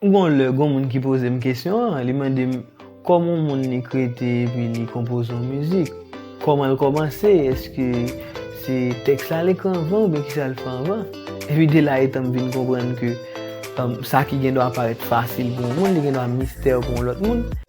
Gon lè gon moun ki poze m kesyon an, li mande m kòman yon moun li krete epi li konpoze yon mizik, kòman l kòmanse, èske se tèks la l ekri anvan oubyen kisa l fè anvan? Epi de la etan m vin konprann ke sa ki gendwa parèt fasil pou yon moun li gendwa mistè pou yon lòt moun.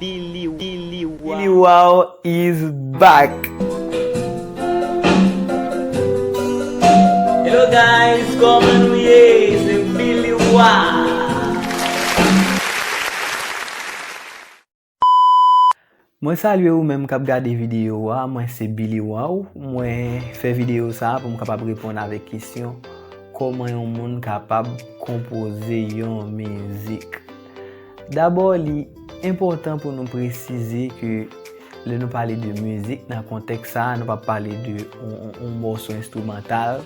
Biliwao is back! Hello guys koman nou ye se Billy Wao. Mwen salye ou menm kap gade video a mwen se Billy Wao mwen fè video sa pou m kapab reponn avèk kesyon kòman yon moun kapab konpoze yon mizik. Dabò li enpòtan pou nou presize ke lè nou pale de mizik nan kontèks sa a, nou pa pale de yon mòso enstrimantal,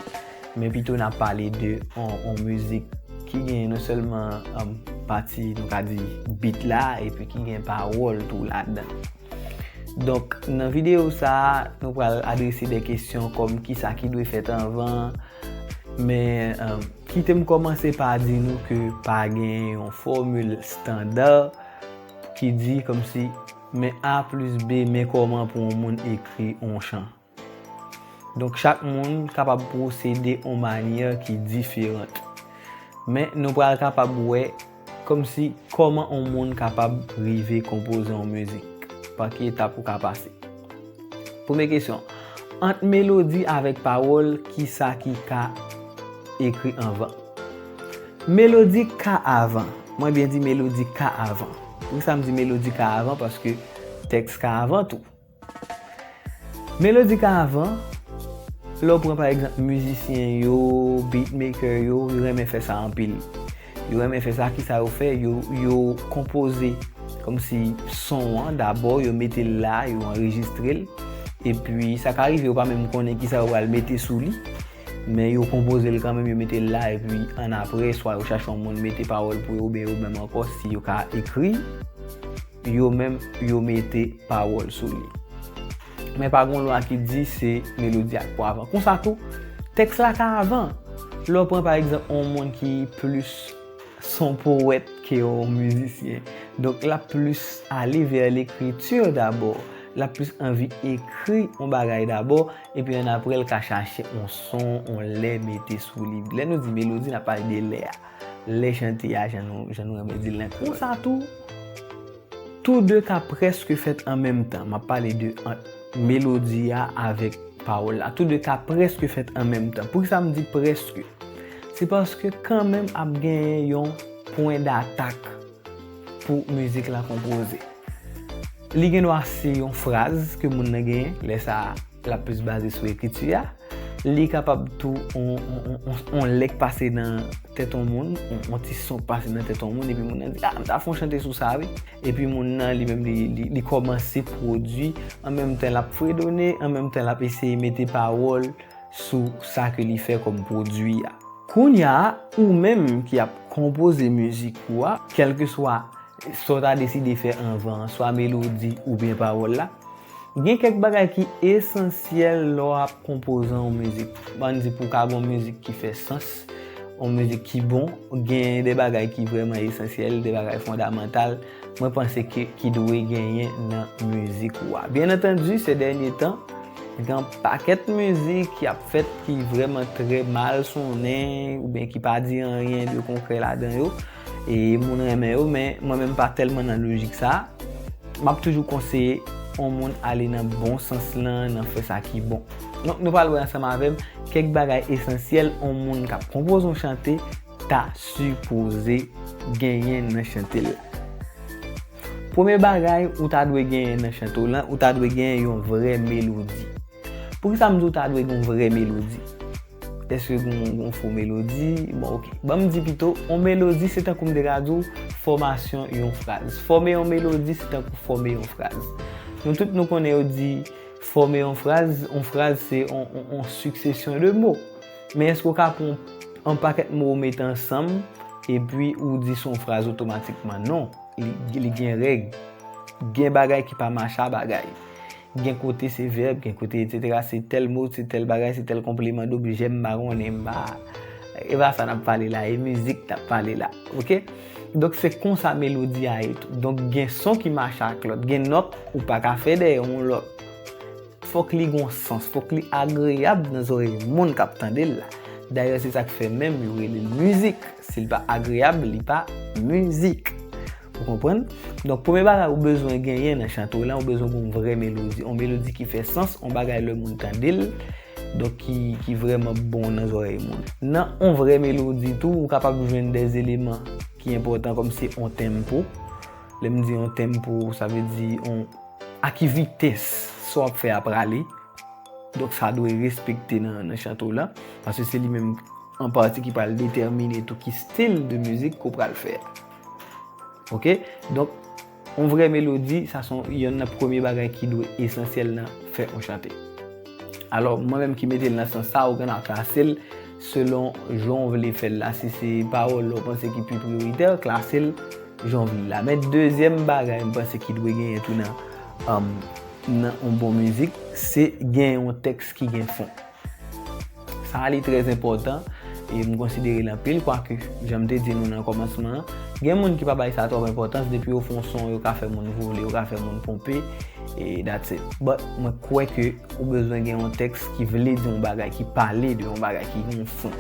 men pito n ap pale de yon mizik ki gen non sèlman pati nou ka di beat la epi ki gen pawòl tou ladan. Donk nan videyo sa a, nou pral adrese de kesyon kòm kisa ki dwe fèt anvan, men Kite m kòmanse pa di nou ke pa gen yon fòmil standa ki di kòmsi men A plis B men kòman pou yon moun ekri yon chan. Donk chak moun kapab pwosede yon manyè ki diferant. Men nou pral kapab wè Kòmsi, kòman on moun kapab rive konpoze on mizik? Pa ki etap ou ka pase? Premye kesyon, ant melodi avèk pawòl, ki sa ki ka ekri anvan? Melodi ka avan. Mwen byen di melodi ka avan. Poukisa m di melodi ka avan? Paske tèks ka avan tou. Melodi ka avan, lè w pran pa egzanp mizisyen yo, beat maker yo, yo renmen fè sa anpil. Yo renmen fè sa, kisa yo fè, yo konpoze kòm si son an dabò, yo mete l la, yo anrejistre l, epi sa ka rive yo pa menm konnen kisa yo pral mete sou li, men yo konpoze l kanmenm, yo mete l la, epi annapre swa yo chache yon moun mete pawòl pou yo oubyen yo menm ankò si yo ka ekri. Yo menm yo mete pawòl sou li. Men pa gen yon lwa ki di se melodi ak pwa avan. Konsa tou, tèks la ka avan. Lè w pran pa egzanp yon moun ki plis son powèt ke yon mizisyen. Donk l ap plis ale vè lekriti dabò. L ap plis anvi ekri yon bagay dabò epi annapre l ka chache yon son, yon lè mete sou li. Lè nou di melodi n ap pale de lè a. Le chante a jan nou renmen di l nan kreyòl. Konsa tou, tou de ka prèske fèt an menm tan. M ap pale de ant melodi a avèk pawòl la. Tou de ka prèske fèt an menm tan. Pou ki sa m di prèske? Se paske kan menm ap genyen yon pwen datak pou mizik la konpoze. Li gen dwa se yon fraz ke moun nan genyen, lè sa a l ap plis baze sou ekriti a. Li kapab tou yon lèk pase nan tèt yon moun, yon ti son pase nan tèt yon moun epi moun nan di, a, m ta fè yon chante sou sa wi. Epi moun nan li menm li kòmanse pwodui, an menm tan l ap fredone, an menm tan l ap eseye mete pawòl sou sa ke li fè kòm pwodui a. Kounya a, ou menm ki ap konpoze mizik ou a, kèlkeswa sa w ta deside fè anvan an, swa melodi oubyen pawòl la. Gen kèk bagay ki esansyèl lè w ap konpoze yon mizik. An n di pou w ka gen yon mizik ki fè sans, yon mizik ki bon, gen de bagay ki vrèman esansyèl, de bagay fondamantal, mwen panse ke ki dwe genyen nan mizik ou a. Byennantandi, se dènye tan, gen yon pakèt mizik ki ap fèt ki vrèman trè mal sonnen oubyen ki pa di anyen de konkrè ladan yo. e moun renmen yo men mwen menm pa tèlman nan lojik sa m ap toujou konseye yon moun ale nan bon sans lan nan fè sa ki bon donk nou pral wè ansanm avè m kèk bagay esansyèl yon moun k ap konpoze yon chante ta sipoze genyen nan chante l la premye bagay ou ta dwe genyen nan chante w lan ou ta dwe genyen yon vrè melodi. Poukisa m di w ta dwe gen yon vrè melodi? Èske gen yon fo melodi? Bon ok, ban m di pito, yon melodi se tankou m te ka di w fòmasyon yon fraz. Fòme yon melodi se tankou fòme yon fraz. Nou tout nou konnen yo di fòme yon fraz, yon fraz se yon siksesyon de mo. Men èske w ka pran yon pakèt mo ou mete ansanm epi ou di se yon fraz otomatikman? Non, li gen règ. Gen bagay ki pa mache a bagay. Gen kote se vèb, gen kote etc. Se tèl mo, se tèl bagay, se tèl konpleman dobjè, m pa konnen, m pa. E pa sa n ap pale la, e mizik n ap pale la. Ok? Donk se konsa melodi a ye tou. Donk gen son ki mache ak lòt. Gen nòt ou pa ka fè dèyè yon lòt. Fòk li gen yon sans, fòk li agreyab nan zòrèy moun k ap tande l la. Dayè se sa k fè menm yo rele l mizik. Si l pa agreyab, li pa mizik. Ou konprann? Donk premye bagay ou bezwen genyen nan chante w lan, ou bezwen gen yon vrè melodi. Yon melodi ki fè sans, yon bagay lè moun tande l, donk ki vrèman bon nan zòrèy moun. Nan yon vrè melodi tou, ou kapab jwenn de eleman ki enpòtan kòmsi yon tenmpo. Lè m di yon tenmpo, sa vle di yon a ki vitès sa w ap fè a prale. Donk sa dwe respekte nan chante w lan. Paske se li menm an pati ki pral detèmine tou ki stil de mizik ke w pral fè. Ok, donk, yon vrè melodi, sa son yon nan premye bagay ki dwe esansyèl nan fè yon chante. Alò, mwen menm ki mete l nan sans sa, ou gen dwa klase l selon jan ou vle fè l la. Si se pawòl ou panse ki pi priyoritè, klase l jan ou vle l la. Men, dezyèm bagay mwen panse ki dwe genyen tou nan yon bon mizik, se gen yon tèks ki gen fon. Sa a li trè enpòtan e m konsidere l anpil kwake, jan m te di nou nan kòmansman an, gen moun ki pa bay sa twòp enpòtans depi yo fon son yo ka fè moun vole, yo ka fè moun ponpe e that's it. But mwen kwè ke ou bezwen gen yon tèks ki vle di yon bagay, ki pale de yon bagay, ki gen yon fon.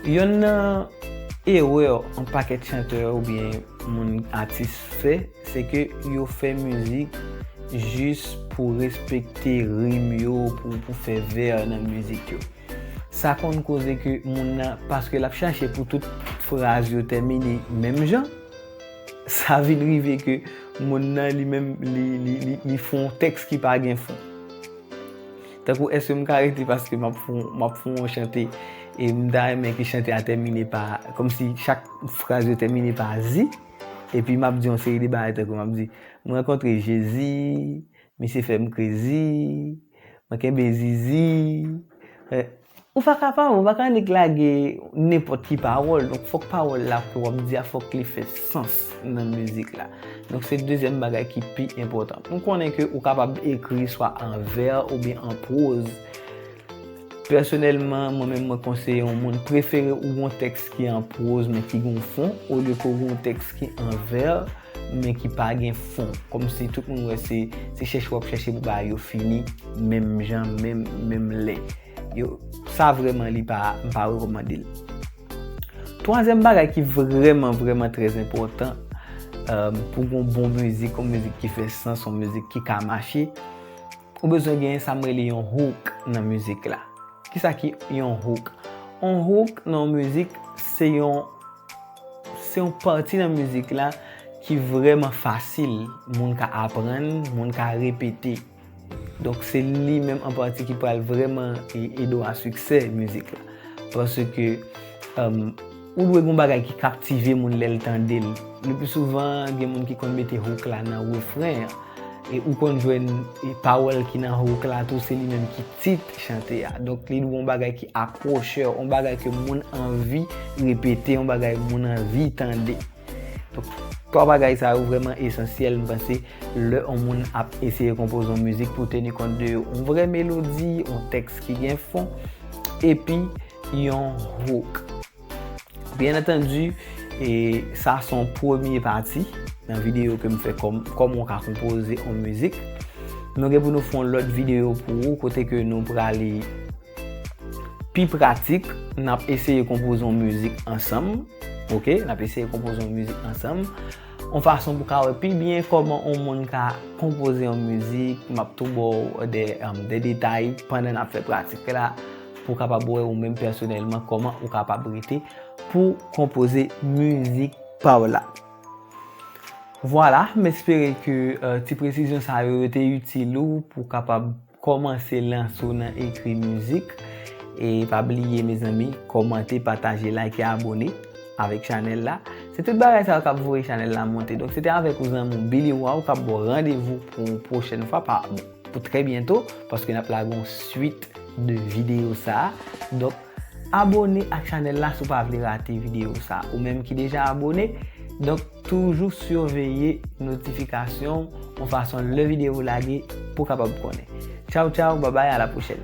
Yonn nan erè yon pakèt chantè oubyen moun atis fè, Se ke yo fè mizik jis pou respekte rim yo, pou fè vè nan mizik yo. Sa konn koze ke moun nan, paske lap chache pou tout fraz yo tèmine menm jan, sa vin rive ke moun nan li menm li fon yon tèks ki pa gen fon. Tankou eske m ka rete paske map fon yon chante e m ta renmen ke chante a tèmine pa, komsi chak fraz yo tèmine pa zi. Epi m ap di yon seri de bagay tankou m ap di, m rankontre Jezi, misye fè m krezi, mwen kenbe zizi. Ou pa ka pa wè, ou pa ka annik lage nenpòt ki pawòl. Donk fòk pawòl la ke w ap di a fòk li fè sans nan mizik la. Donk se dezyèm bagay ki pi enpòtan. M konnen ke ou kapab ekri swa an vè oubyen an pwoz. Pèsonèlman, mwen menm mwen konseye yon moun prefere ou gen yon tèks ki an pwoz men ki gen yon fon, olye ke ou gen yon tèks ki an vè men ki pa gen fon. Kòmsi tout moun wè se chèche w ap chèche pou bagay yo fini menm jan, menm lè. Yo, sa vrèman li pa, m pa rekòmande l. Twazyèm bagay ki vrèman, vrèman trè enpòtan pou gen yon bon mizik, yon mizik ki fè sans, yon mizik ki ka mache, Ou bezwen gen sa m rele yon hook nan mizik la. Kisa ki yon hook? Yon hook nan yon mizik se yon se yon pati nan mizik la ki vreman fasil moun ka aprann, moun ka repete. Donk se li menm an pati ki pral vreman ede w a siksè mizik la. Paske Ou dwe gen yon bagay ki kaptive moun lè l tande l. Lepli souvan, gen moun ki konn mete hook la nan refren an. E ou konn jwenn pawòl ki nan hook la tou se li menm ki tit chante a. Donk li dwe yon bagay ki akwochè, yon bagay ke moun anvi repete, yon bagay moun anvi tande. Donk, 3 bagay sa yo vrèman esansyèl m panse lè yon moun ap eseye konpoze yon mizik pou w teni kont de yo. Yon vrè melodi, yon tèks ki gen fon, epi. yon hook. Byen entendi, e sa son premye pati nan videyo ke m fè kòman w ka konpoze yon mizik. Nou gen pou nou fè yon lòt videyo pou ou kote ke nou prale pi pratik, n ap eseye konpoze yon mizik ansanm, ok, n ap eseye konpoze yon mizik ansanm, yon fason pou ka wè pi byen kòman yon moun ka konpoze yon mizik, m ap tou ba w de detay pandan n ap fè pratik la. pou w kapab wè ou menm pèsonèlman kòman ou kapab rete pou konpoze mizik pa w la. Vwala, m espere ke ti presizyon sa yo yo te itil ou pou w kapab kòmanse lanse w nan ekri mizik. E pa bliye mezanmi, kòmante, pataje, layke, abone avèk chanèl la. Se tout bagay sa yo k ap voye chanèl la monte. Donk se te avèk ou zanmi w Billy Waw k ap ba w randevou pou yon pwochèn fwa pa. pou trè byento paske nap lage yon swit de video sa donk abone ak chanèl la si w pa vle rate video sa ou menm ki deja abone donk toujou siveye notifikasyon yon fason lè video w lage pou kapab konnen tchaw tchaw babay a la pwochèn.